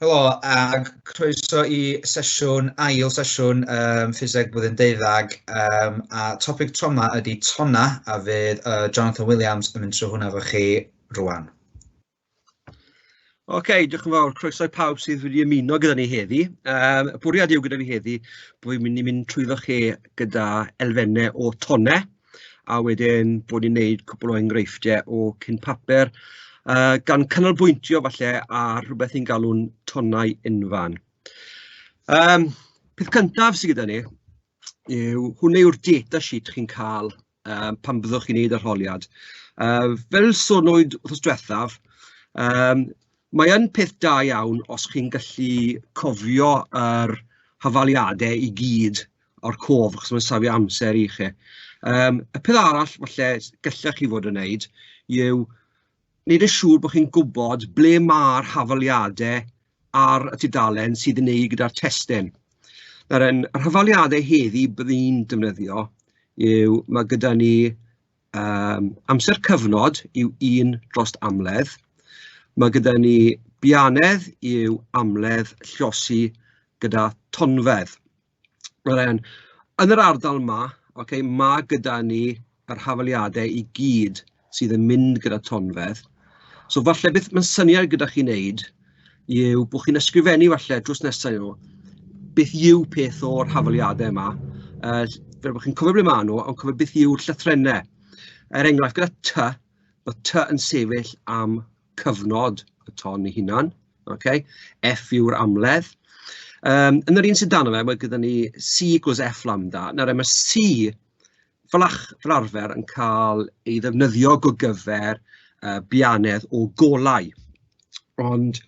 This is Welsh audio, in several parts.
Helo, ac croeso i sesiwn, ail sesiwn um, ffiseg blwyddyn deuddag, um, a topic troma ydy tonna, a fydd uh, Jonathan Williams yn mynd trwy hwnna fo chi rwan. Oce, okay, diolch yn fawr. Croeso i pawb sydd wedi ymuno gyda ni heddi. Um, bwriad yw gyda fi heddi bod fi'n mynd i mynd trwyddo chi gyda elfennau o tonnau. a wedyn bod ni'n wneud cwpl o enghreifftiau o cyn papur, yy gan canolbwyntio falle ar rywbeth ni'n galw'n tonnau unfan. Yym peth cyntaf sy gyda ni yw hwn yw'r data sheet chi'n cael yym pan fyddwch chi'n wneud arholiad. Yy fel sonwyd wythnos diwethaf, yym mae yn peth da iawn os chi'n gallu cofio yr hafaliadau i gyd o'r cof achos mae'n safio amser i chi. Yym y peth arall falle s- gallech chi fod yn wneud yw wneud yn siŵr bod chi'n gwybod ble ma'r hafaliadau ar y tudalen sydd yn wneud gyda'r testun. Nawr yn yr hafaliadau heddi bydd i'n defnyddio yw ma' gyda ni yym amser cyfnod yw un drost amledd, ma' gyda ni bianedd yw amledd llosi gyda tonfedd. Wel ewn, yn yr ardal 'ma, ok, ma' gyda ni yr hafaliadau i gyd sydd yn mynd gyda tonfedd, so falle beth ma'n syniad gyda chi wneud yw bod chi'n ysgrifennu falle drws nesa i nhw, beth yw peth o'r hafaliadau 'ma, yy fel bod chi'n cofio ble ma' nhw, ond cofio beth yw'r llythrennau, er enghraifft gyda 'ty', ma' 'ty' yn sefyll am cyfnod y ton ei hunan, ok, F yw'r amledd. Um, yn yr un sydd dan fe, mae gyda ni C gwrs F lambda. Nawr, mae C fel, ach, fel arfer yn cael ei ddefnyddio go gyfer uh, bianedd o golau. Ond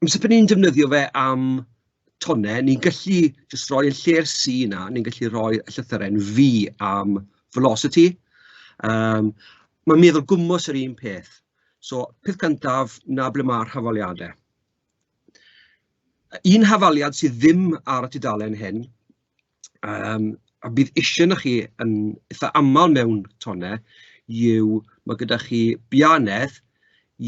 Amser pan ni'n defnyddio fe am tonnau, ni'n gallu jyst rhoi y lle'r C 'na, ni'n gallu rhoi y llythyren V am velocity, yym mae'n meddwl gwmws yr un peth, so peth cyntaf, 'na ble ma'r hafaliadau. Un hafaliad sydd ddim ar y tudalen hyn, yym a bydd isie arnoch chi yn itha aml mewn tonnau yw ma' gyda chi biau annedd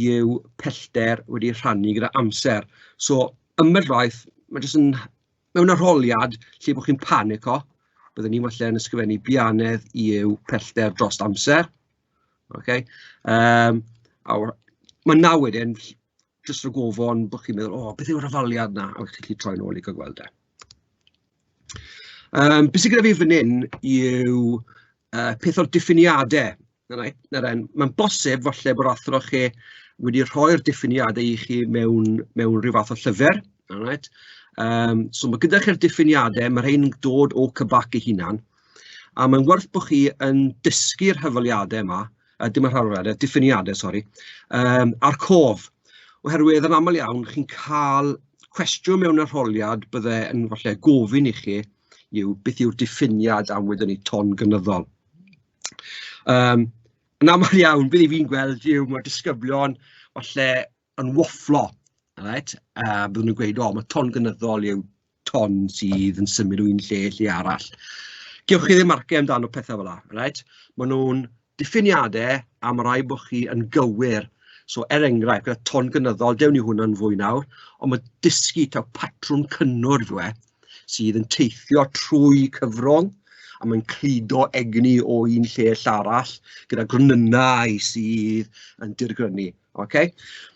yw pellter wedi rhannu gyda amser, so ambell waith ma' jyst yn mewn arholiad lle bod chi'n panico, bydden ni falle yn ysgrifennu biau annedd yw pellter dros amser ok yym a w- ma' 'na wedyn jyst rhag ofon bod chi'n meddwl "o beth yw'r hafaliad 'na?" a chi'n gallu troi nôl i gael gweld e. Yym be sy gyda fi fan hyn yw yy peth o'r diffiniadau, na fe, na fe, mae'n bosib falle bod athro chi wedi rhoi'r diffiniadau i chi mewn mewn ryw fath o llyfr, all right, yym so ma' gyda chi'r diffiniadau, ma' rhein yn dod o CBAC ei hunan, a mae'n werth bod chi yn dysgu'r hafaliadau yma. yy dim y rhan arall, y diffiniadau sori, yym a'r cof, oherwydd yn aml iawn chi'n cael cwestiwn mewn arholiad bydde yn falle gofyn i chi yw beth yw'r diffiniad am wedwn ni ton gynyddol? Yym yn aml iawn be fi'n gweld yw ma' disgyblion falle... yn wafflo alright a byddwn nhw'n gweud "o ma' ton gynyddol yw ton sydd yn symud o un lle i lle arall". Gewch chi ddim marciau amdano pethe fela alright maen nhw'n diffiniadau a ma' raid bod chi yn gywir so er enghraifft gyda ton gynyddol dewn ni hwnna'n fwy nawr ond ma' dysgu taw patrwm cynnwrf yw e sydd yn teithio trwy cyfrwng a mae'n cludo egni o un lle ill arall gyda gronynnau sydd yn dirgrynu. ok.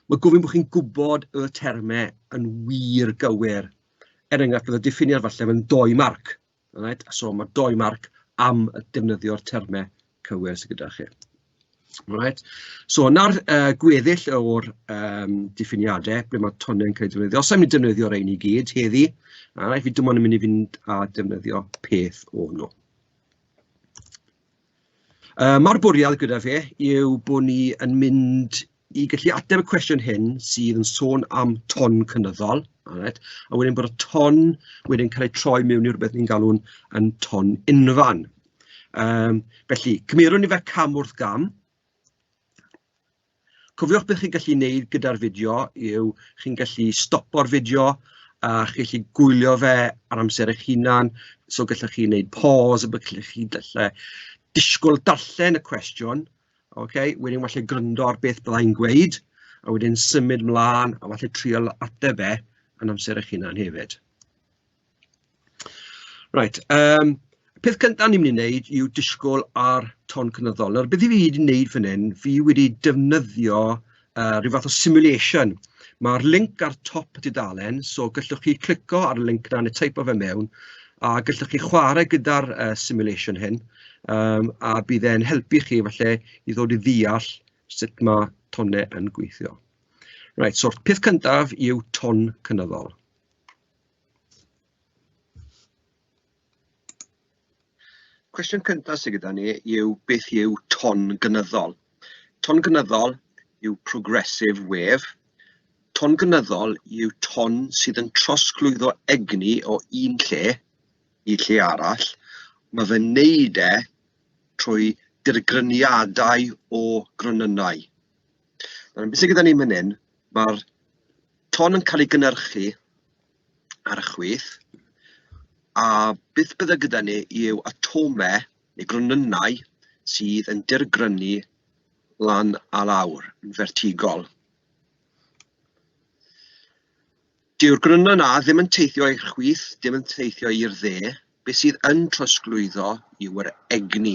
Mae'n gofyn bod chi'n gwybod y termau yn wir gywir. Er enghraifft, bydd y diffiniad falle yn dou marc, alright, so ma' dou marc am defnyddio'r termau cywir sy gyda chi. Alright, so 'na'r yy gweddill o'r yym diffiniadau ble ma' tonnau'n cael eu defnyddio. Sa i'n mynd i defnyddio rhein i gyd heddi, alright, fi dim ond yn mynd i fynd a defnyddio peth o nhw. Yy ma'r bwriad gyda fe yw bod ni yn mynd i gallu ateb y cwestiwn hyn sydd yn sôn am ton cynyddol alright a wedyn bod y ton wedyn yn cael ei troi mewn i rywbeth ni'n galw'n yn ton unfan yym felly cymerwn ni fe cam wrth gam. Cofiwch beth chi'n gallu ei wneud gyda'r fideo yw, chi'n gallu stopo'r fideo a chi'n gallu gwylio fe ar amser eich hunan, so gallwch chi wneud pause a bod chi'n gallu falle disgwyl darllen y cwestiwn, ok, wedyn falle gwrando ar beth byddai'n gweud, a wedyn symud mlaen a falle trial ateb e yn amser eich hunan hefyd. Reit yym peth cynta o'n i'n mynd i neud yw disgwyl ar Ton Cynyddol. Nawr beth fi wedi neud fan hyn, fi wedi defnyddio yy ryw fath o simulation, ma'r linc ar top y dudalen, so gallwch chi clico ar y linc 'na neu teipo fe mewn, a gallwch chi chwarae gyda'r yy simulation hyn yym a bydd e'n helpu chi falle i ddod i ddeall sut ma' tonnau yn gweithio. Reit so'r peth cyntaf yw Ton Cynyddol. Cwestiwn cyntaf sydd gyda ni yw beth yw ton gynyddol? Ton gynyddol yw progressive wave. Ton gynyddol yw ton sydd yn trosglwyddo egni o un lle i lle arall. Mae fe wneud e trwy dirgryniadau o gronynnau. Nawr, beth sydd gyda ni fan hyn Mae'r ton yn cael ei gynhyrchu ar y chwith, a beth byddai gyda ni yw atomau neu gronynnau sydd yn dirgrynu lan a lawr, yn fertigol. Dyw'r grynau yna ddim yn teithio i'r chwith, dim yn teithio i'r dde, beth sydd yn trosglwyddo yw yr egni.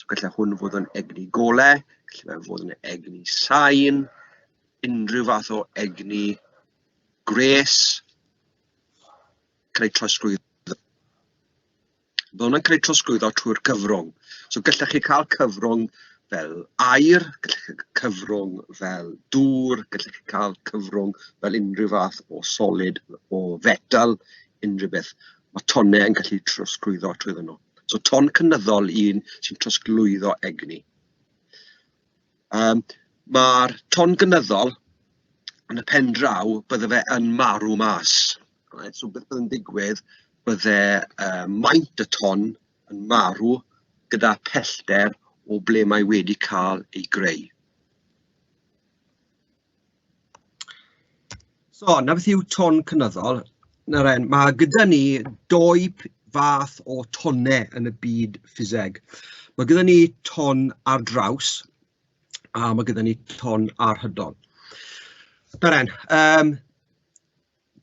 So gallai hwn fod yn egni gole, gallai fe fod yn egni sain, unrhyw fath o egni gwres, cael ei trosglwyddo Mae hwnna'n cael ei trosglwyddo trwy'r cyfrwng. So gallech chi cael cyfrwng fel aer, gallech chi cael cyfrwng fel dŵr, gallech chi cael cyfrwng fel unrhyw fath o solid, o fetal, unrhyw beth. Ma' tonnau yn gallu trosglwyddo trwyddo nhw. So ton cynyddol un sy'n trosglwyddo egni. Yym ma'r ton gynyddol yn y pen draw bydde fe yn marw mas, reit, so beth oedd yn digwydd bydde yy maint y ton yn marw gyda phellter o ble mae wedi cael ei greu. So, 'na beth yw ton cynyddol. Nawr 'en, ma' gyda ni dou p- fath o tonnau yn y byd ffiseg. Ma' gyda ni ton ar draws a ma' gyda ni ton arhydol. Nawr 'en, yym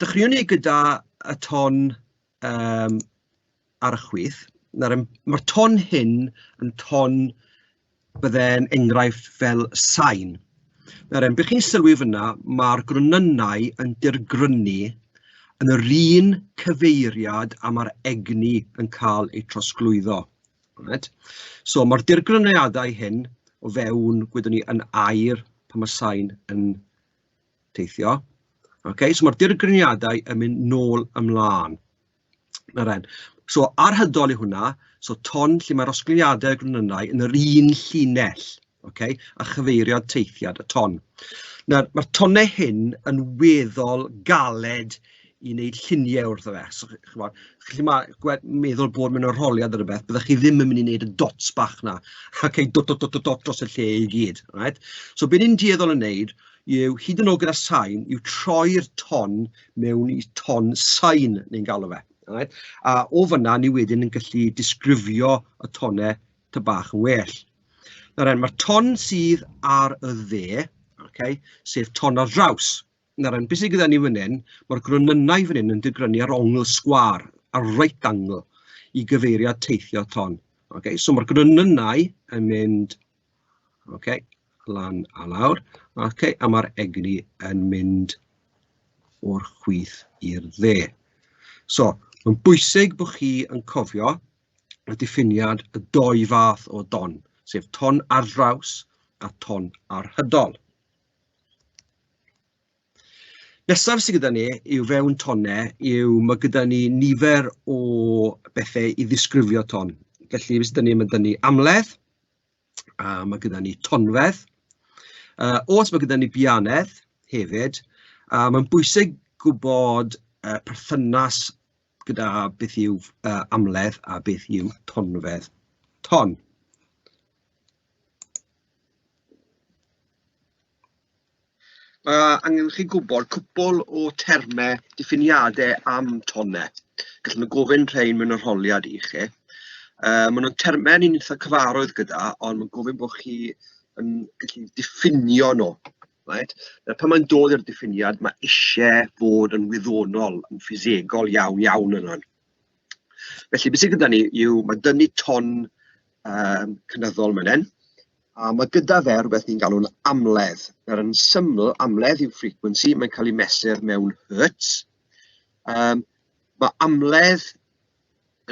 dechreuwn ni gyda y ton yym ar y chwith, nawr yym ma'r ton hyn yn ton bydde'n enghraifft fel sain, nawr yym be chi'n sylwi fanna ma'r gronynnau yn dirgrynnu yn yr un cyfeiriad a ma'r egni yn ca'l eu trosglwyddo reit, so ma'r dirgrynniadau hyn o fewn gwyddo ni yn air pan ma' sain yn teithio. Ok, so mae'r dirgryniadau yn mynd nôl ymlaen. Na ren. So ar hydol i hwnna, so ton lle mae'r osgiliadau gronynnau yn yr un llinell, ok, a chyfeirio teithiad y ton. Nawr, mae'r tonnau hyn yn weddol galed i wneud lluniau wrtho fe, so chimod, chi ma, meddwl bod mewn arholiad neu rywbeth, byddech chi ddim yn mynd i wneud y dots bach 'na, ac ei dot dot dot dot dot dros y lle i gyd, right? So be ni'n dueddol o wneud yw, hyd yn oed gyda sain, yw troi'r ton mewn i ton sain, ni'n galw fe, right? A o fanna ni wedyn yn gallu disgrifio y tonau ty bach yn well. Nawr, mae'r ton sydd ar y dde, okay, sef ton ar draws, Nawr yn bwysig gyda ni fan hyn, ma'r gronynnau fan hyn yn digrynu ar ongl sgwâr, ar right angle i gyfeirio at teithio ton. Ok, so ma'r gronynnau yn mynd ok lan a lawr, ok, a ma'r egni yn mynd o'r chwith i'r dde. So, mae'n bwysig bod chi yn cofio y diffiniad y doi fath o don, sef ton ar draws a ton arhydol. Nesaf sy gyda ni yw fewn tonnau yw ma' gyda ni nifer o bethe i ddisgrifio ton. Felly be sy 'da ni, ma' 'da ni amledd, a ma' gyda ni tonfedd, yy oes ma' gyda ni bianedd hefyd, a ma'n bwysig gwbod y perthynas gyda beth yw yy amledd a beth yw tonfedd ton. Mae angen i chi gwybod cwpwl o termau diffiniadau am tonnau, gallwn nhw gofyn rhein mewn arholiad i chi. Yy maen nhw'n termau ni'n itha' cyfarwydd gyda, ond mae'n gofyn bod chi yn gallu diffinio nhw, reit. Yy pan mae'n dod i'r diffiniad, ma' isie bod yn wyddonol, yn ffisegol iawn iawn yna. Felly be sy gyda ni yw ma' dynnu ton yym cynyddol fan hyn, a ma' gyda fe rywbeth ni'n galw'n amledd. Nawr yn syml, amledd yw frequency, mae'n cael ei mesur mewn hertz. Yym ma' amledd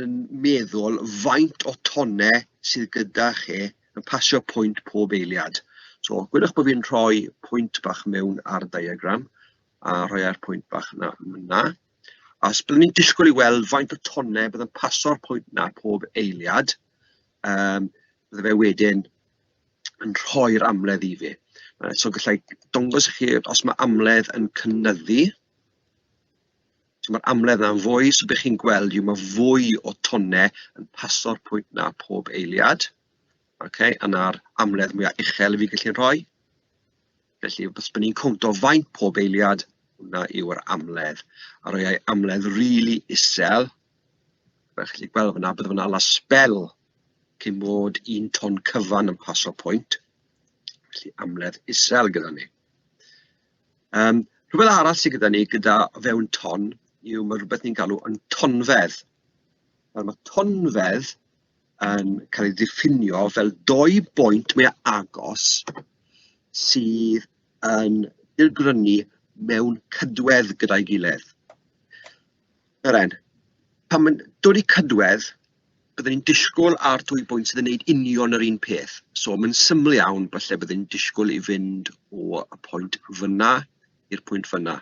yn meddwl faint o tonnau sydd gyda chi yn pasio pwynt pob eiliad. So gwyddoch bod fi'n rhoi pwynt bach mewn ar y diagram a rhoi ar pwynt bach 'na fan'na. Achos byddwn ni'n disgwyl i weld faint o tonnau bydd yn paso'r pwynt 'na pob eiliad, yym bydde fe wedyn yn rhoi'r amledd i fi. Yy so gallai dangos i chi os mae amledd yn cynyddu. So mae'r amledd yna'n fwy, so be chi'n gweld yw mae fwy o tonnau yn paso'r pwynt 'na pob eiliad. Ocê, yna'r amledd mwyaf uchel 'y fi'n gallu rhoi. Felly, os bod ni'n cowntio faint pob eiliad, hwnna yw'r amledd. A rhoi ei amledd rili isel, fel chi'n gallu gweld fanna, bydde fe'n hala sbel cyn bod un ton cyfan yn pasio pwynt, felly amledd isel gyda ni. Um, rhywbeth arall sydd gyda ni gyda fewn ton yw mae rhywbeth ni'n galw yn tonfedd. Nawr mae tonfedd yn cael ei ddiffinio fel dou boint mwy agos sydd yn dirgrynu mewn cydwedd gyda'i gilydd. Yr en. Pan mae'n dod i cydwedd, byddwn ni'n disgwyl ar dwy bwynt sydd yn gwneud union yr un peth. So mae'n syml iawn, falle byddwn ni'n disgwyl i fynd o y pwynt fyna i'r pwynt fyna.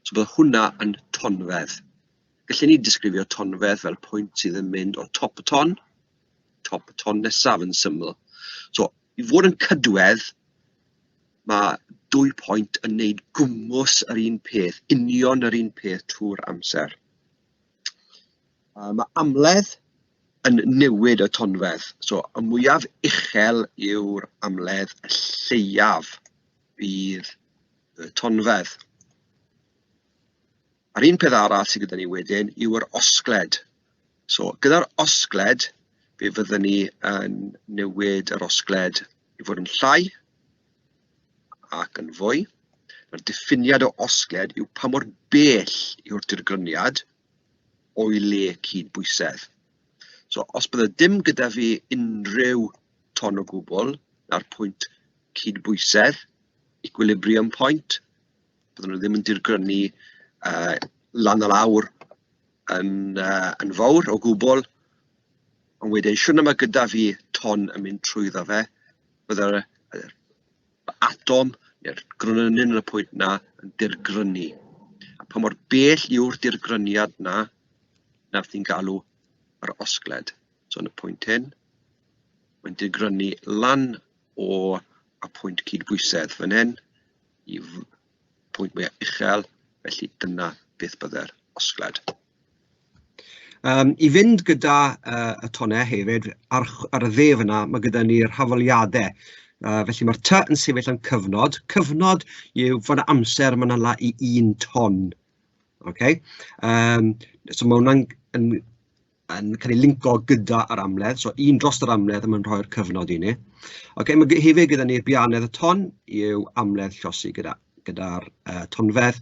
So bydd hwnna yn tonfedd. Gallen ni ddisgrifio tonfedd fel pwynt sydd yn mynd o top y ton, top y ton nesaf yn syml. So, i fod yn cydwedd, mae dwy pwynt yn wneud gwmws yr un peth, union yr un peth trwy'r amser. Mae amledd yn newid y tonfedd. So, y mwyaf uchel yw'r amledd, y lleiaf bydd y tonfedd. A'r un peth arall sydd gyda ni wedyn yw yr osgled. So gyda'r osgled, fe fydden ni yn newid yr osgled i fod yn llai ac yn fwy. Mae'r diffiniad o osgled yw pa mor bell yw'r dirgryniad o'i le cyd-bwysedd. So, os bydde dim gyda fi unrhyw ton o gwbl, na'r pwynt cyd-bwysedd, equilibrium point, bydden nhw ddim yn dirgrynu yy lan a lawr yn yy yn fawr o gwbl, ond wedyn siwrna ma' gyda fi ton yn mynd trwyddo fe, bydde'r yr atom neu'r gronyn yn y pwynt 'na yn dirgrynu, a pa mor bell yw'r dirgryniad 'na, 'na beth ni'n galw yr osgled. So yn y pwynt hyn, mae'n dirgrynu lan o y pwynt cydbwysedd fan hyn, i pwynt mwyaf uchel, felly dyna beth byddai'r osgled. Um, I fynd gyda uh, y tonau hefyd, ar, ar y dde fyna, mae gyda ni'r hafoliadau. Uh, felly mae'r ty yn sefyll yn cyfnod. Cyfnod yw fod amser mae'n ala i un ton. Okay? Um, so mae hwnna'n yn cael ei linco gyda yr amledd, so un dros yr amledd a mae'n rhoi'r cyfnod i ni. Ok, mae hefyd gyda ni bianedd y ton i'w amledd llosi gyda'r gyda, uh, tonfedd,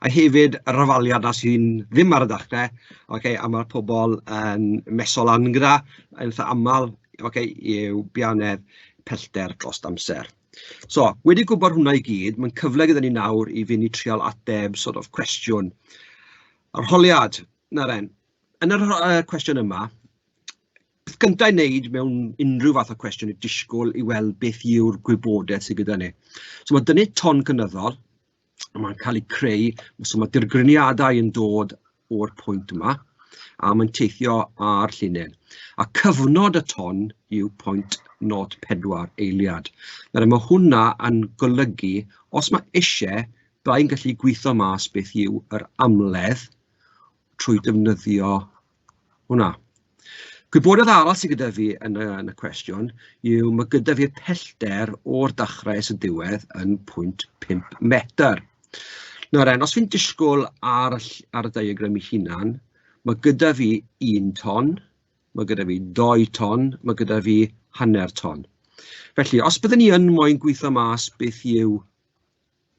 a hefyd y rafaliad na sy'n ddim ar y dachnau, okay, a mae'r pobl yn mesol lan gyda, yn eitha aml, okay, i'w bianedd pellter dros amser. So, wedi gwybod hwnna i gyd, mae'n cyfle gyda ni nawr i fynd i trial ateb sort of cwestiwn. Arholiad, na ren, Yn yr yy cwestiwn yma, peth gynta' i wneud mewn unrhyw fath o cwestiwn yw disgwyl i weld beth yw'r gwybodaeth sy gyda ni. So ma' 'da ni ton cynyddol, a ma'n cael ei creu, so ma' dirgriniadau yn dod o'r pwynt yma, a ma'n teithio ar llinyn. A cyfnod y ton yw 0.04 eiliad. Nawr ma' hwnna yn golygu, os ma' isie, byddai'n gallu gwitho mas beth yw yr amledd trwy ddefnyddio hwnna. Gwybodaeth arall sy gyda fi yn y yn y cwestiwn yw ma' gyda fi'r pellter o'r dachrau at y diwedd yn pwynt pump metr. Nawr 'en os fi'n disgwl ar y ll- ar y diagram ei hunan, ma' gyda fi un ton, ma' gyda fi dou ton, ma' gyda fi hanner ton. Felly os bydden ni yn moyn gwitho mas beth yw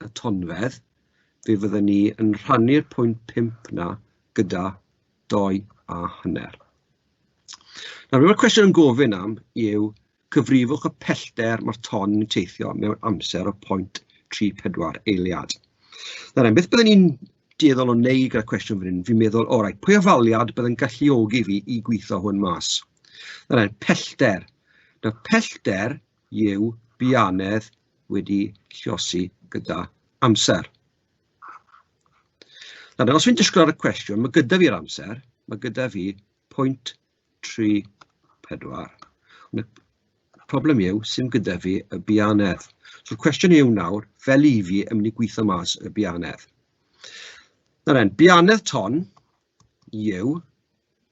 y tonfedd, fe fydden ni yn rhannu'r pwynt pump 'na gyda dou a hanner. Nawr, be mae'r cwestiwn yn gofyn am yw cyfrifwch y pellter mae'r ton yn teithio mewn amser o 0.34 eiliad. Nawr, beth byddwn ni'n dueddol o wneud gyda'r cwestiwn fan hyn, fi'n meddwl, o rai, pwy ofaliad bydd yn galluogi fi i gweithio hwn mas? Dyna, pellter. Nawr, pellter yw bianedd wedi llosi gyda amser. Nawr, os fi'n disgwyl ar y cwestiwn, mae gyda fi'r amser, mae gyda fi pwynt 3, 4. Y problem yw, sy'n gyda fi y bianedd. So'r cwestiwn yw nawr, fel i fi, yn mynd i gweithio mas y bianedd. Nawr en, bianedd ton, yw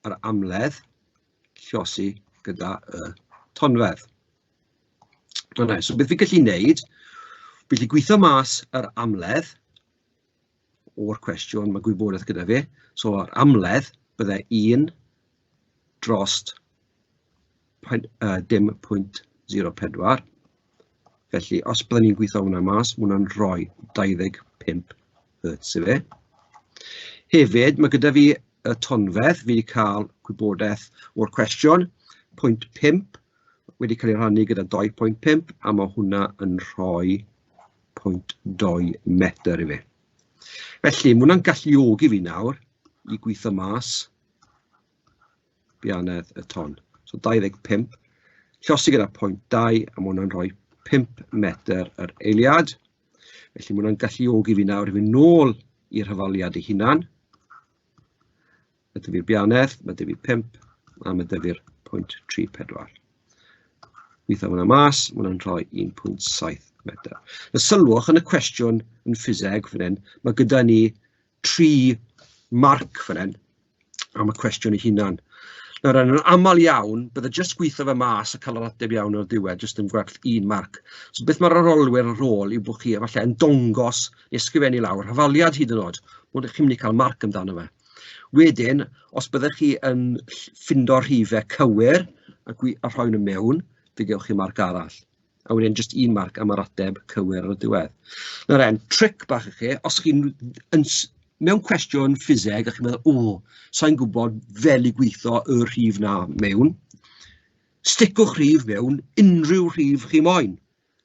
yr amledd llosi gyda y tonfedd. Yna, so beth fi'n gallu wneud, fi'n gallu gweithio mas yr amledd o'r cwestiwn, mae gwybodaeth gyda fi, so yr amledd byddai 1 drost 0.04. Felly, os byddwn ni'n gweithio hwnna mas, mae hwnna'n rhoi 25 hertz i fe. Hefyd, mae gyda fi y tonfedd, fi wedi cael gwybodaeth o'r cwestiwn, 0.5 wedi cael ei rhannu gyda 2.5 a mae hwnna yn rhoi 0.2 metr i fi. Felly, mae hwnna'n galluogi fi nawr i gweithio mas Bianedd y Ton. So 25, llosi gyda pwynt 2, a mae hwnna'n rhoi 5 metr yr eiliad. Felly mae hwnna'n galluogi fi nawr i fynd nôl i'r hyfaliad ei hunan. Mae dyfu'r bianedd, mae dyfu 5, a mae dyfu'r pwynt 34. Gweithio hwnna mas, mae hwnna'n rhoi 1.7 metr. Y sylwch yn y cwestiwn yn ffiseg fan hyn, mae gyda ni tri marc fan hyn am y cwestiwn ei hunan. Nawr yn aml iawn, bydde jyst gweithio fe mas a cael yr ateb iawn o'r diwedd jyst yn gwerth un marc. So beth mae'r arolwyr ar ôl yw bod chi efallai yn dongos neu ysgrifennu lawr hafaliad hyd yn oed, ond chi'n mynd i cael marc amdano fe. Wedyn, os byddech chi yn ffindo'r rhifau cywir a, a rhoi nhw mewn, fe gewch chi marc arall. a wedyn jyst un marc am yr ateb cywir ar y diwedd. Nawr e'n tric bach i chi, os chi'n yn s- mewn cwestiwn ffiseg a chi'n meddwl, o, sa'n gwybod fel i gweithio y rhif 'na mewn, sticwch rhif mewn unrhyw rhif chi moyn,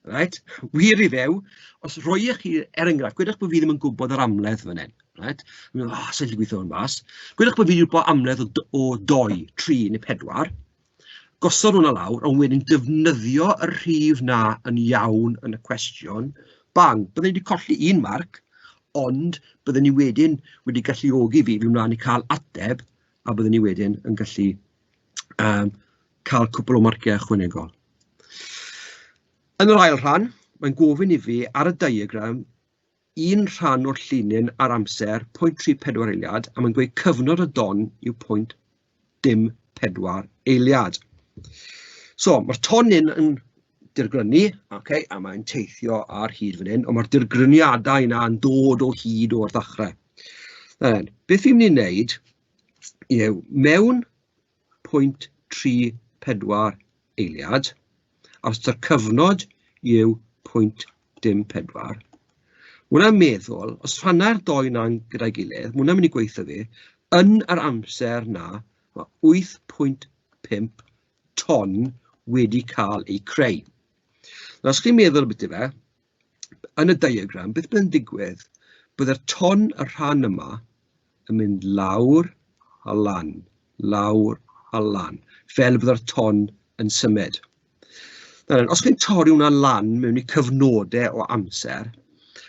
reit, wir i Dduw, os rhoiech chi, er enghraifft, gwedwch bo fi ddim yn gwybod yr amledd fan hyn, reit, fi'n meddwl, o, sa i'n gallu gweithio hwn mas, gwedwch bo fi 'di gwybod amledd o d- o dou, tri neu pedwar, gosod hwnna lawr, ond wedyn defnyddio y rhif 'na yn iawn yn y cwestiwn, bang, bydden ni wedi colli un marc, ond bydden ni wedyn wedi galluogi fi i fynd mlaen i cael ateb, a bydden ni wedyn yn gallu yym cael cwpl o marciau ychwanegol. Yn yr ail rhan, mae'n gofyn i fi ar y diagram un rhan o'r llinyn ar amser, pwynt 34 eiliad, a mae'n gweud cyfnod y don yw pwynt dim 4 eiliad. So, mae'r tonyn yn dirgrynu, okay, a mae'n teithio ar hyd fan hyn, ond mae'r dirgryniadau yna yn dod o hyd o'r ddechrau. Then, beth fi'n mynd i wneud yw, mewn pwynt tri pedwar eiliad, a os taw cyfnod yw pwynt dim pedwar, ma' hwnna'n meddwl, os rhanna'r dou 'na gyda'i gilydd, ma' hwnna'n mynd i gweithio fi, yn yr amser 'na, ma' wyth pwynt pump ton wedi cael eu creu. Nawr, os chi'n meddwl ambiti fe, yn y diagram, beth bydd yn digwydd? Byddai'r ton, y rhan yma, yn mynd lawr a lan, lawr a lan, fel y bydde'r ton yn symud. Nawr, os chi'n torri hwnna lan mewn i cyfnodau o amser,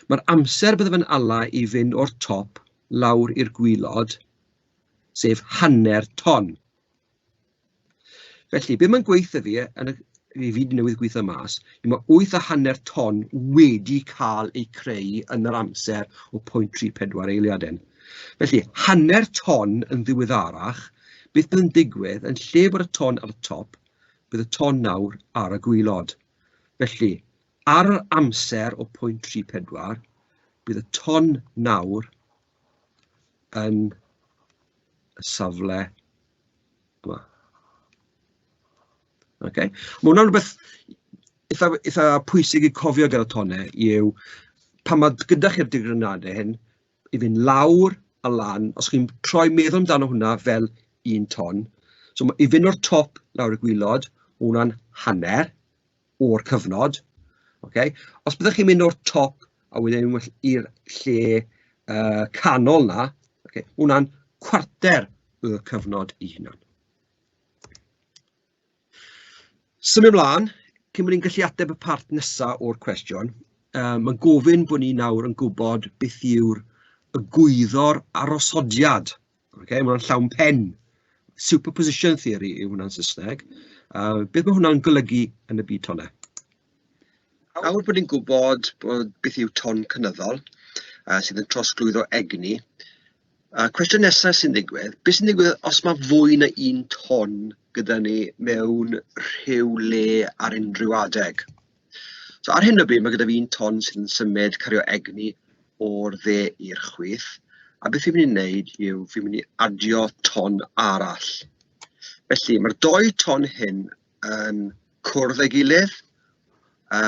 mae'r amser bydde fe'n ala i fynd o'r top lawr i'r gwylod, sef hanner ton. Felly, be mae'n gweithio fi, yn y, fi fyd newydd gweithio mas, yw mae 8 a hanner ton wedi cael eu creu yn yr amser o 0.34 eiliadau. Felly, hanner ton yn ddiweddarach, beth bydd yn digwydd, yn lle bod y ton ar y top, bydd y ton nawr ar y gwylod. Felly, ar yr amser o 0.34, bydd y ton nawr yn y safle yma. Okay. Mae hwnna'n rhywbeth eitha, eitha pwysig i cofio gyda tonne yw pan mae gyda chi'r digrynadau hyn i fynd lawr a lan, os chi'n troi meddwl amdano hwnna fel un ton, so i fynd o'r top lawr y gwylod, hwnna'n hanner, o'r cyfnod, ok. Os byddech chi'n mynd o'r top a wedyn i'r lle uh, canol na, ok, hwnna'n cwarter y cyfnod i hunan. Symud ymlaen, cyn bod ni'n gallu ateb y part nesaf o'r cwestiwn, um, mae'n gofyn bod ni nawr yn gwybod beth yw'r y gwyddor arosodiad Ok, mae hwnna'n llawn pen. Superposition theory yw hwnna'n Saesneg. Uh, beth mae hwnna'n golygu yn y byd tonau? Awr bod ni'n gwybod bod beth yw ton cynyddol uh, sydd yn trosglwyddo egni, uh, cwestiwn nesaf sy'n digwydd, beth sy'n digwydd os mae fwy na un ton gyda ni mewn rhyw le ar unrhyw adeg? So ar hyn o bryd, mae gyda fi un ton sy'n symud, cario egni o'r dde i'r chwith. A beth fi'n mynd i wneud yw, fi'n mynd i adio ton arall. Felly, mae'r dou ton hyn yn cwrdd ei gilydd. A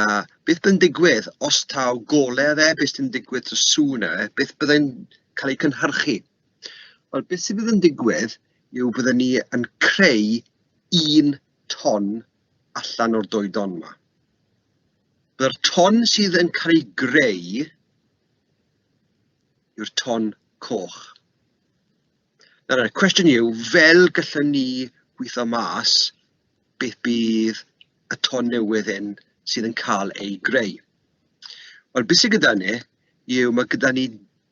beth byddai'n digwydd os taw golau fe, beth sy'n digwydd to sŵn e, beth byddai'n cael ei cynhyrchu? Wel, beth sydd yn digwydd yw byddwn ni yn creu un ton allan o'r doedon yma. By'r ton sydd yn cael ei greu yw'r ton coch. Nawr, y cwestiwn yw, fel gallwn ni gweithio mas beth bydd y ton newydd hyn sydd yn cael ei greu. Wel, beth sydd gyda ni yw mae gyda ni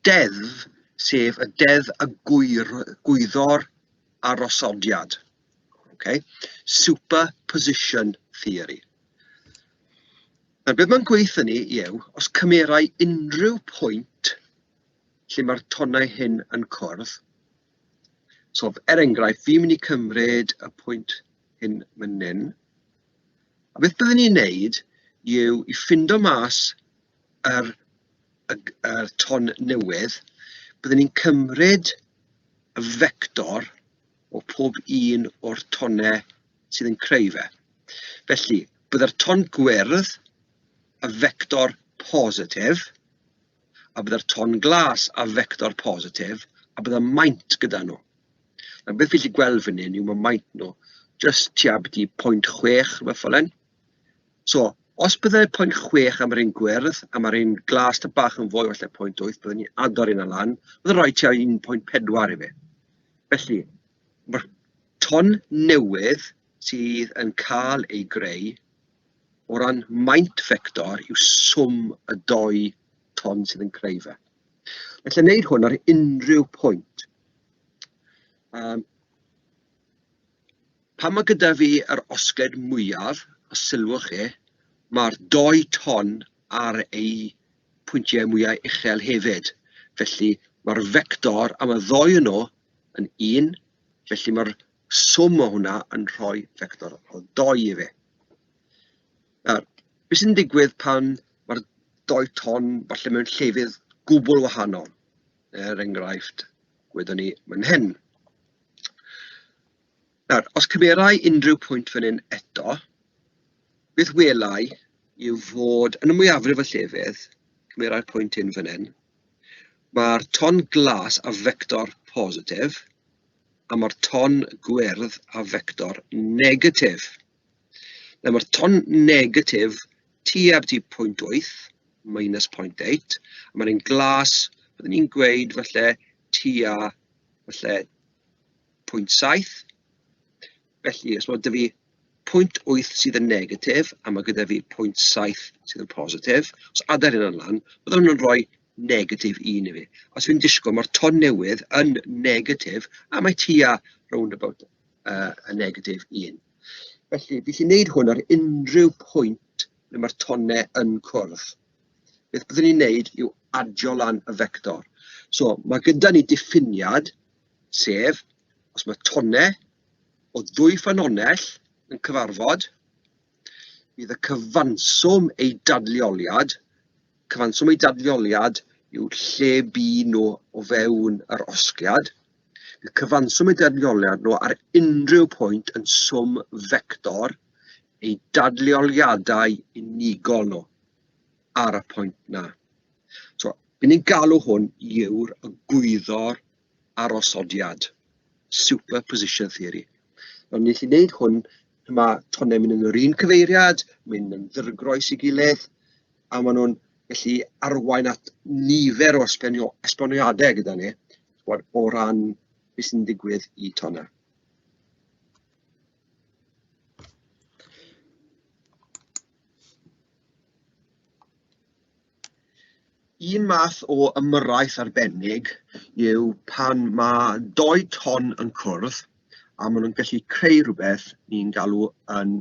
deddf, sef y deddf y gwyr, gwyddor arosodiad. Ocê, superposition theory. Nawr be mae'n gweithio ni yw, os cymerai unrhyw pwynt lle mae'r tonnau hyn yn cwrdd, so er enghraifft, fi'n mynd i cymryd y pwynt hyn fan hyn, a beth byddwn ni'n neud yw i ffindo mas yr, y, y ton newydd, byddwn ni'n cymryd y vector o pob un o'r tonnau sydd yn creu fe. Felly, byddai'r ton gwyrdd yn fector positif, a byddai'r ton glas yn fector positif, a byddai maint gyda nhw. Nawr beth fi'n gallu gweld fan hyn yw mae maint nhw jyst tua byti 0.6 rhywbeth fel hyn. So, os byddai pwynt chwech am yr un gwyrdd, a ma'r un glas tamaid bach yn fwy falle pwynt wyth, byddwn ni'n agor hynna lan, bydd yn rhoi tua un pwynt pedwar i fi. Felly, ma'r ton newydd sydd yn cael ei greu o ran maint vector yw swm y dou ton sydd yn creu fe. Felly, wneud hwn ar unrhyw pwynt. Um, Pan mae gyda fi yr osgled mwyaf, os sylwch chi, mae'r dou ton ar eu pwyntiau mwyaf uchel hefyd. Felly, mae'r fector am y ddou o nhw yn 1, felly mae'r swm o hwnna yn rhoi fector o 2 i fi. Nawr, beth sy'n digwydd pan mae'r dou ton falle mewn llefydd gwbl wahanol, er enghraifft, gwyddo ni fan hyn. Nawr, os cymera i unrhyw pwynt fan hyn eto, beth wela i yw fod, yn y mwyafrif o llefydd, cymera'r pwynt hyn fan hyn, mae'r ton glas a fector positif, a mae'r ton gwyrdd a fector negatif. Nawr, ton negatif tua byti 0.8, minus 0.8, a ma'r un glas, bydden i'n gweud falle tua falle 0.7. Felly, os bod 'da fi 0.8 sydd yn negatif, a ma' gyda fi 0.7 sydd yn positif, os adael hynna lan, bydde hwnna'n rhoi negatif un i fi. Os fi'n disgwyl, ma'r ton newydd yn negatif, a mae tua rownd about yy y negatif un. Felly, fi'n gallu wneud hwn ar unrhyw pwynt ble ma'r tonnau yn cwrdd. Beth byddwn ni'n wneud yw adio lan y vector. So, ma' gyda ni diffiniad, sef os ma' tonnau o ddwy ffynhonnell yn cyfarfod, Bydd y cyfanswm eu dadleoliad, cyfanswm eu dadleoliad yw lle bu nhw o fewn yr osgiad, bydd cyfanswm eu dadleoliad nhw ar unrhyw pwynt yn swm fector eu dadleoliadau unigol nhw ar y pwynt 'na. So, 'y ni'n galw hwn yw'r egwyddor arosodiad, superposition theory. Mae'n gallu gwneud hwn, mae tonnau'n mynd yn yr un cyfeiriad, mynd yn ddirgroes ei gilydd, a maen nhw'n gallu arwain at nifer o esbonio- esboniadau gyda ni, chimod, o ran beth sy'n digwydd i tonnau. Un math o ymyrraeth arbennig yw pan mae dou ton yn cwrdd a maen nhw'n gallu creu rhywbeth ni'n galw yn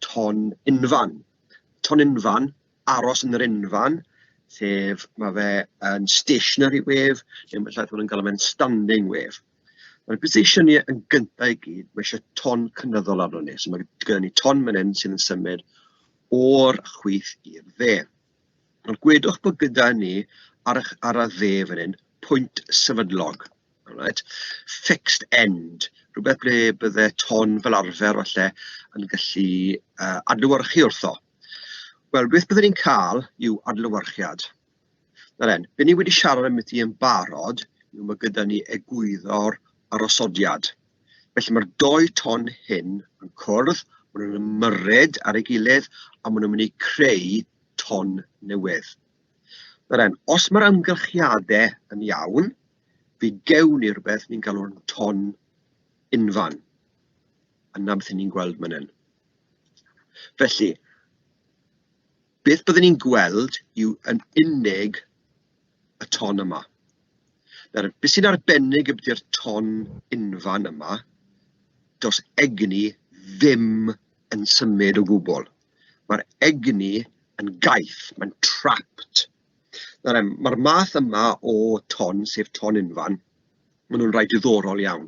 ton unfan. Ton unfan, aros yn yr unfan, sef ma' fe yn stationary wave neu ma' llawer pobl yn galw fe'n standing wave. Ma'r precision ni yn gynta i gyd, ma' isie ton cynyddol arnon ni, so ma' gyda ni ton fan hyn sydd yn symud o'r chwith i'r dde. Wel, gwedwch bod gyda ni ar y ch- ar y dde fan hyn pwynt sefydlog, alright, fixed end, rywbeth ble bydde ton fel arfer falle yn gallu yy adlewyrchu wrtho. Wel, beth bydden ni'n cael yw adlewyrchiad. Nawr den, be' ni wedi siarad ambiti yn barod yw ma' gyda ni egwyddor arosodiad. Felly mae'r dou ton hyn yn cwrdd, maen nhw'n ymyrryd ar ei gilydd a maen nhw'n mynd i creu ton newydd. Rhaid, os mae'r amgylchiadau yn iawn, fi gewn ni rhywbeth ni'n galw'n ton unfan. Yna beth ni'n gweld fan hyn. Felly, Beth byddwn ni'n gweld yw yn unig y ton yma. Nawr, be sy'n arbennig ydy'r ton unfan yma, does egni ddim yn symud o gwbl. Mae'r egni yn gaeth, mae'n trapped. Nawr, mae'r math yma o ton, sef ton unfan, Maen nhw'n rai diddorol iawn.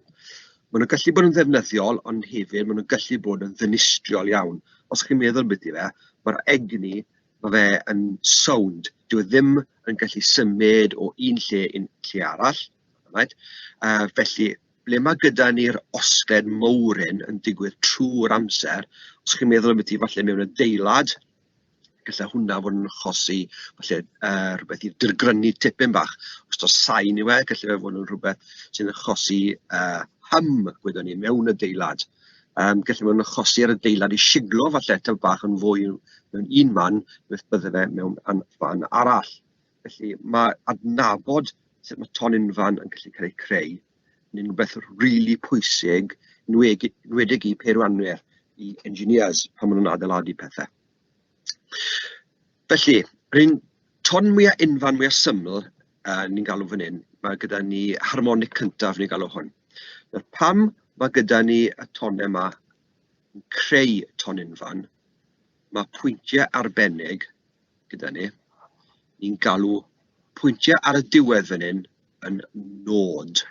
Maen nhw'n gallu bod yn ddefnyddiol, ond hefyd maen nhw'n gallu bod yn ddinistriol iawn. Os chi'n meddwl ambiti fe, mae'r egni, mae fe yn sound. Dyw e ddim yn gallu symud o un lle i'n lle arall. Right? Uh, felly, ble mae gyda ni'r osgled mowr hyn yn digwydd trwy'r amser, os chi'n meddwl ambiti falle mewn adeilad, Gallai hwnna fod yn achosi falle yy rywbeth i dirgrynnu tipyn bach, os taw sain yw e, gallai fe fod yn rhywbeth sy'n achosi yy hum, gwyddwn ni, mewn adeilad. Yym gallai fod yn achosi i'r adeilad i shiglo falle tipyn bach yn fwy mewn un man, beth byddai fe mewn an- fan arall. Felly ma' adnabod sut ma' tonynnfan yn gallu cael ei creu yn un rwbeth rili pwysig, nwegi- enwedig i peirianwyr, i engineers pan maen nhw'n adeiladu pethe. Felly, yr un ton mwya unfan, mwya syml yy ni'n galw fan hyn, ma' gyda ni harmonic cyntaf ni'n galw hwn. Nawr pam ma' gyda ni y tonnau 'ma yn creu tonynnfan, ma' pwyntiau arbennig... gyda ni. Ni'n galw pwyntiau ar y diwedd fan hyn yn nod.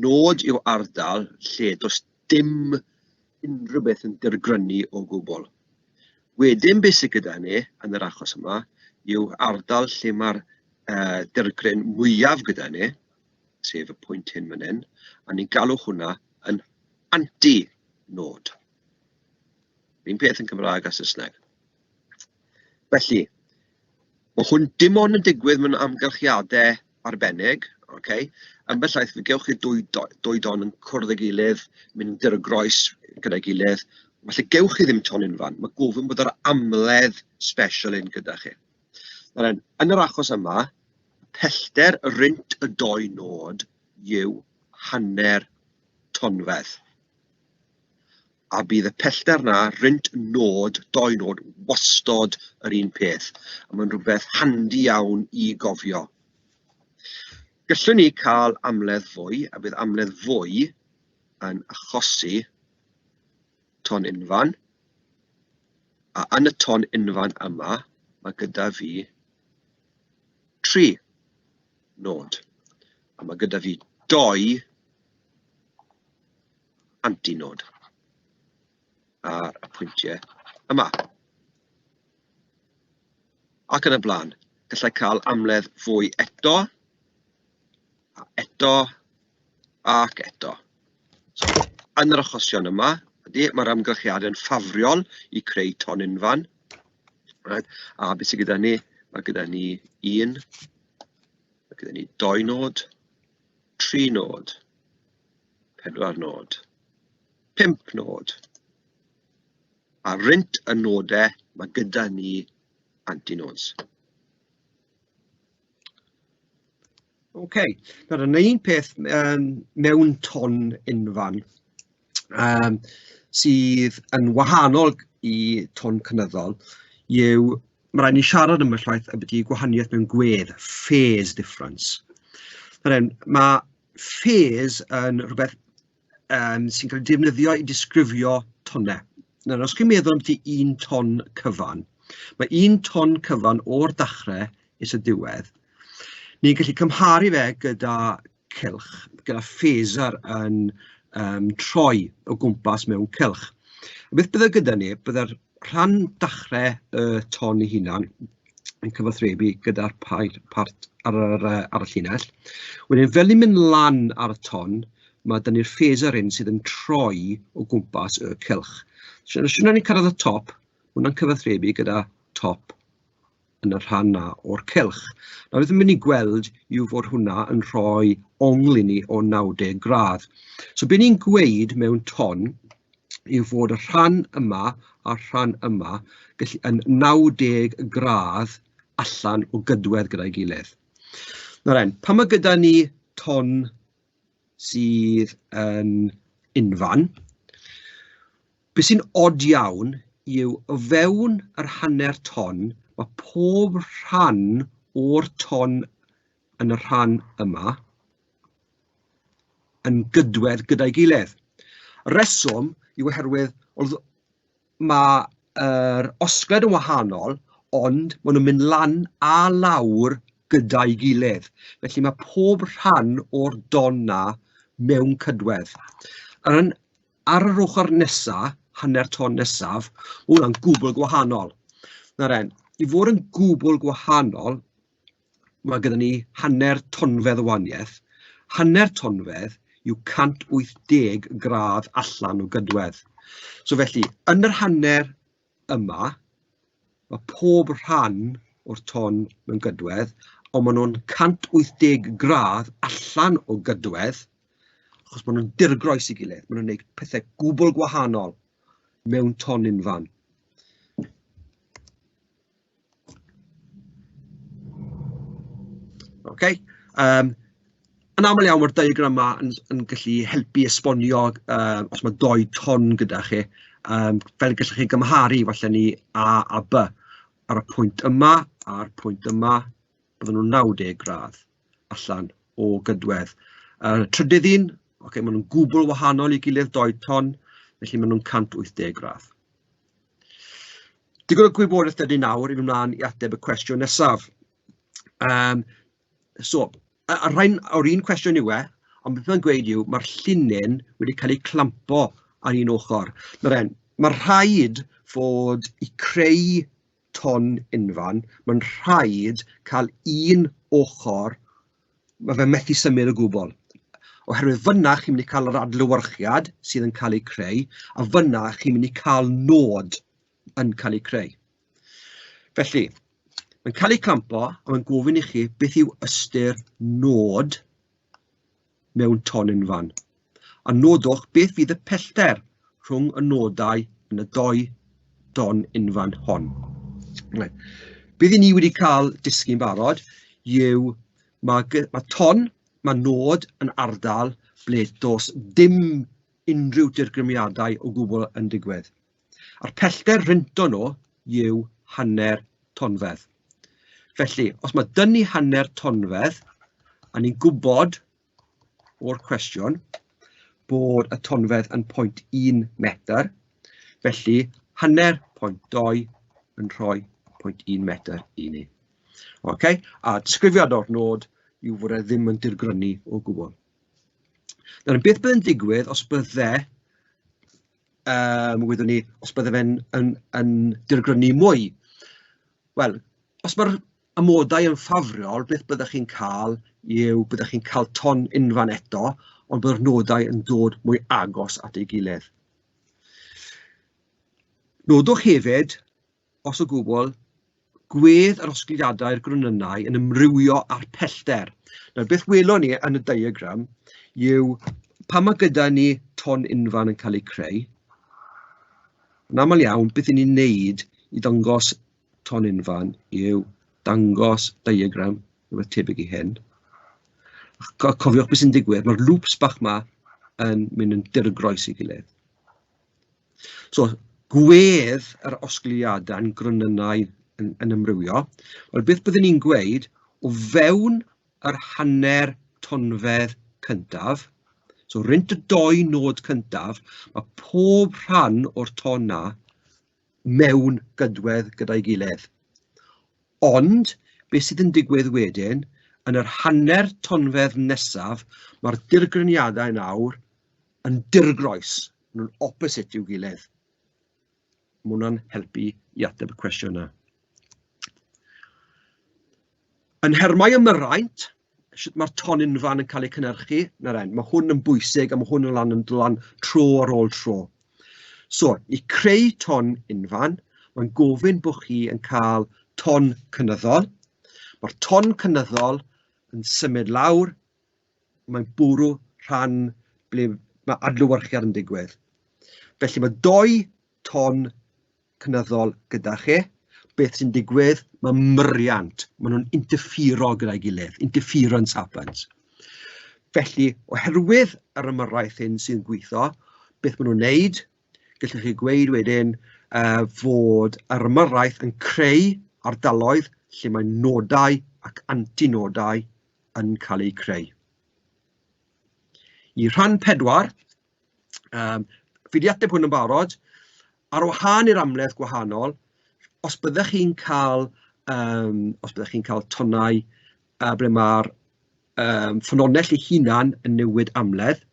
Nod yw ardal lle does dim unrhyw beth yn dirgrynu o gwbl. Wedyn beth sydd gyda ni yn yr achos yma yw ardal lle mae'r uh, dirgryn mwyaf gyda ni, sef y pwynt hyn fan hyn, a ni'n galw hwnna yn anti-nod. Un peth yn Cymraeg a Saesneg. Felly, ma' hwn dim ond yn digwydd mewn amgylchiadau arbennig, ok, ambell waith fe gewch chi dwy do- dwy don yn cwrdd â'i gilydd, milltir o groes gyda'i gilydd, falle gewch chi ddim tonyn fan, ma' gofyn bod yr amledd sbesial hyn gyda chi. Nawr, yn yr achos yma, pellter y rhint y dou nod yw hanner tonfedd. a bydd y pellter 'na rynt nôd, dou nôd, wastod yr un peth. A mae'n rhywbeth handi iawn i gofio. Gallwn ni cael amledd fwy, a bydd amledd fwy yn achosi ton unfan. A yn y ton unfan yma, mae gyda fi tri nôd. A mae gyda fi doi antinod ar y pwyntiau yma. Ac yn y blaen, gallai cael amledd fwy eto, a eto, ac eto. So, yn yr achosion yma, ydy, mae'r amgylchiad yn ffafriol i creu ton unfan. Right? A beth sydd gyda ni? Mae gyda ni un, mae gyda ni doi nod, tri nod, pedwar nod, pump nod, a rent y nodau mae gyda ni antinodes. OK, nawr yn un peth um, mewn ton unfan um, sydd yn wahanol i ton cynyddol yw, mae rhaid ni siarad am y llaeth y byddu gwahaniaeth mewn gwedd, phase difference. Mae phase yn rywbeth yym sy'n cael ei defnyddio i ddisgrifio tonnau. Nawr os chi'n meddwl ambiti un ton cyfan, ma' un ton cyfan o'r dachrau is y diwedd, ni'n gallu cymharu fe gyda cylch, gyda phaser yn yym troi o gwmpas mewn cylch. Beth bydde gyda ni, bydde'r rhan dachrau y ton ei hunan, yn cyfathrebu gyda'r pair part ar yr yy ar y llinell, wedyn fel ni'n mynd lan ar y ton, ma' 'da ni'r phaser hyn sydd yn troi o gwmpas y cylch, so os y'n ni'n cyrraedd y top, ma' hwnna'n cyfathrebu gyda top yn y rhan 'na o'r cylch, nawr beth fi'n mynd i gweld yw fod hwnna yn rhoi ongl i ni o 90 gradd, so be ni'n gweud mewn ton, yw fod y rhan yma a'r rhan yma gallu... yn 90 gradd allan o gydwedd gyda'i gilydd. Nawr 'en, pan ma' gyda ni ton sydd yn unfan, be sy'n od iawn yw o fewn yr hanner ton, ma' pob rhan o'r ton yn y rhan yma yn gydwedd gyda'i gilydd. Y rheswm yw oherwydd wrth... mae'r er osgled yn wahanol, ond maen nhw'n mynd lan a lawr gyda'i gilydd. Felly mae pob rhan o'r don 'na mewn cydwedd. Ar, yn, ar yr ochr nesaf, hanner ton nesaf, hwnna'n gwbl gwahanol. Nawr en, i fod yn gwbl gwahanol, ma' gynnon ni hanner tonfedd o wahaniaeth, hanner tonfedd yw 180 gradd allan o gydwedd. So felly, yn yr hanner yma, ma' pob rhan o'r ton mewn gydwedd, ond ma' nw'n 180 gradd allan o gydwedd, achos ma' nw'n dirgroes i gilydd, ma' nw'n neud pethe gwbwl gwahanol mewn ton unfan. Ok yym yn aml iawn ma'r diagram 'ma yn yn gallu helpu esbonio yy os ma' dou ton gyda chi yym fel y gallwch chi gymharu falle ni A a By ar y pwynt yma a'r pwynt yma bydden nhw'n 90 gradd allan o gydwedd. Yy trydydd un ocê maen nhw'n gwbl wahanol i'w gilydd dou ton felly maen nhw'n 180 gradd. Digon o gwybodaeth 'da ni nawr i fynd mlaen i ateb y cwestiwn nesaf yym so y y rhain o'r un cwestiwn yw e, ond beth mae'n gweud yw ma'r llinyn wedi cael eu clampo ar un ochr, nawr e'n ma' rhaid fod i creu ton unfan, ma'n rhaid cael un ochr mae fe methu symud o gwbl, oherwydd fan'na chi'n mynd i cael yr adlewyrchiad sydd yn cael ei creu, a fan'na chi'n mynd i cael nod yn cael ei creu. Felly, mae'n cael ei clampo, a mae'n gofyn i chi beth yw ystyr nod mewn tonyn fan. a nodwch beth fydd y pellter rhwng y nodau yn y dou don unfan hon. Bydd i ni wedi cael disgyn barod yw mae, mae ton, mae nod yn ardal ble dos dim unrhyw dirgrymiadau o gwbl yn digwydd. A'r pellter rynto nhw yw hanner tonfedd. Felly, os mae dynnu hanner tonfedd, a ni'n gwybod o'r cwestiwn bod y tonfedd yn 0.1 metr, felly hanner 0.2 yn rhoi 0.1 metr i ni. Ok, a disgrifiad o'r nod yw fod e ddim yn dirgrynu o gwbl. Nawr, beth bydd yn digwydd os bydde, um, wyddwn ni, os bydde fe'n yn, yn dirgrynu mwy? Wel, os mae'r amodau yn ffafriol, beth byddech chi'n cael yw, byddech chi'n cael ton unfan eto, ond byddwch nodau yn dod mwy agos at ei gilydd. Nodwch hefyd, os o gwbl, gwedd yr osgidiadau'r gronynnau yn ymrywio â'r pellter. Nawr, beth welon ni yn y diagram yw pan mae gyda ni ton unfan yn cael ei creu, yn aml iawn, beth ni'n neud i ddangos tonynnfan yw dangos diagram rywbeth tebyg i hyn, a cofiwch beth sy'n digwydd, mae'r lŵps bach ma yn mynd yn dirgroes i gilydd. So, gwedd yr osgiliadau yn gronynnau yn, yn ymrywio, wel beth byddwn ni'n gweud o fewn yr hanner tonfedd cyntaf, so rent y doi nod cyntaf, mae pob rhan o'r ton na mewn gydwedd gyda'i gilydd. Ond beth sydd yn digwydd wedyn, yn yr hanner tonfedd nesaf, mae'r dirgryniadau nawr yn dirgroes, maen nhw'n opposite i'w gilydd. Mae hwnna'n helpu i ateb y cwestiwn yna. Yn nhermau ymyraint, sut mae'r ton unfan yn cael ei cynhyrchu, na ren, mae hwn yn bwysig a mae hwn yn lan yn lan tro ar ôl tro. So, i creu ton unfan, mae'n gofyn bod chi yn cael ton cynyddol. Mae'r ton cynyddol yn symud lawr, mae'n bwrw rhan ble mae adlywyrchiad yn digwydd. Felly mae doi ton cynyddol gyda chi, beth sy'n digwydd, ma' muriant, ma' nhw'n interfero gyda'i gilydd, interference happens. Felly, oherwydd yr ymyrraeth hyn sy'n gweithio, beth maen nhw'n wneud, gallwch chi gweud wedyn uh, fod yr ymyrraeth yn creu ardaloedd lle mae nodau ac antinodau yn cael eu creu. I rhan pedwar, Yym fi 'di ateb hwn yn barod, ar wahân i'r amledd gwahanol, os byddech chi'n cael yym os byddech chi'n cael tonnau yy ble ma'r yym ffynonell ei hunan yn newid amledd,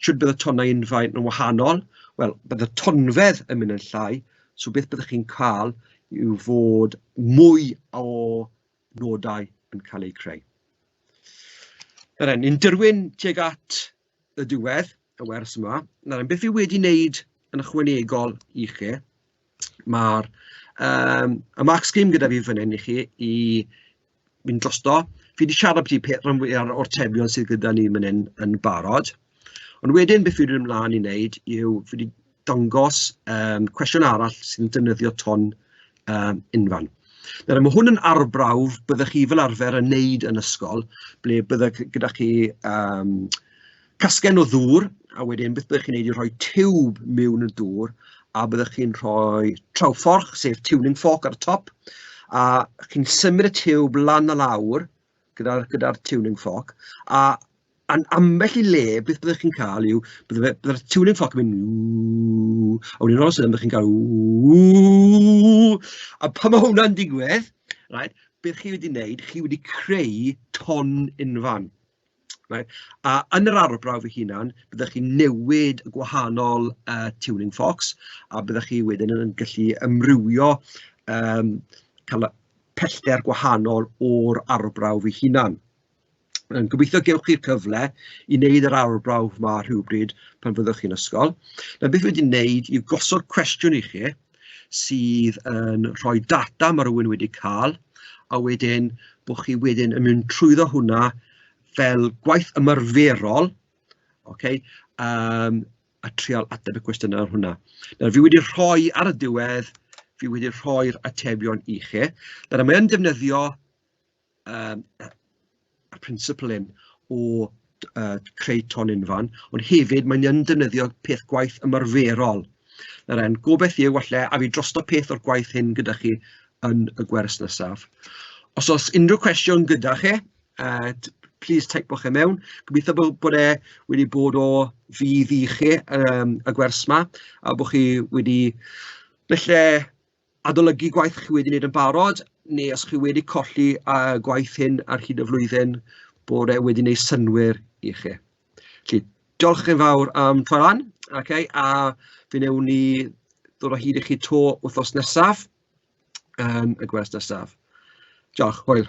shwt bydd y tonnau yn faint yn wahanol? Wel, bydd y tonfedd yn mynd yn llai, so beth byddech chi'n cael yw fod mwy o nodau yn cael eu creu. Yr hyn, ni'n dirwyn tuag at y diwedd, y wers yma. Nawr, beth fi wedi wneud yn ychwanegol i chi, mae'r um, y mark scheme gyda fi fan hyn i chi i mynd drosto. Fi wedi siarad beth i rhan fwyaf o'r tebion sydd gyda ni fan hyn yn barod. Ond wedyn beth fi wedi ymlaen i wneud yw fi wedi dangos yym cwestiwn arall sy'n defnyddio ton yym unfan. Nawr ma' hwn yn arbrawf byddech chi fel arfer yn wneud yn ysgol, ble bydde g- gyda chi yym casgen o ddŵr, a wedyn beth byddech chi'n wneud yw rhoi tiwb miwn y dŵr, a byddech chi'n rhoi trawfforch, sef tuning fork ar y top, a chi'n symud y tiwb lan a lawr gyda'r gyda'r tuning fork, a A'n ambell i le, beth byddech chi'n cael yw, bydde fe... bydde'r tiwlin cloc yn mynd "Wwww" a wedyn all all of a sudden byddech chi'n cael "Wwww" a pan ma' hwnna'n digwydd reit be chi wedi wneud, chi wedi creu ton unfan reit, a yn yr arbrawf ei hunan byddech chi'n newid y gwahanol yy tiwlin clocs a byddech chi wedyn yn gallu amrywio yym cael y pellter gwahanol o'r arbrawf ei hunan. Yym gobeithio gewch chi'r cyfle i wneud yr arbrawf 'ma rhywbryd pan fyddwch chi'n ysgol, a beth wedyn wneud yw gosod cwestiwn i chi sydd yn rhoi data ma' rywun wedi ca'l, a wedyn bo' chi wedyn yn mynd trwyddo hwnna fel gwaith ymarferol, ocê, yym a trial ateb y cwestiynau hwnna. Nawr fi wedi rhoi ar y diwedd, fi wedi rhoi'r atebion i chi, nawr a mae yn defnyddio yym y principle hyn o yy creu tôn unfan, ond hefyd mae'n yn defnyddio peth gwaith ymarferol, nawr e'n gobaith yw falle a fi drosto peth o'r gwaith hyn gyda chi yn y gwers nesaf. Os oes unrhyw cwestiwn gyda chi, yy plis teipwch e mewn, gobeithio bod bod e wedi bod o fudd i chi yym y gwers 'ma a bod chi wedi falle adolygu gwaith chi wedi wneud yn barod, neu os chi wedi colli y gwaith hyn ar hyd y flwyddyn, bod e wedi wneud synnwyr i chi. Felly, diolch yn fawr am troi lan, okay, a fe wnewn ni ddod o hyd i chi to wythnos nesaf, um, y gwers nesaf. Diolch, hwyl.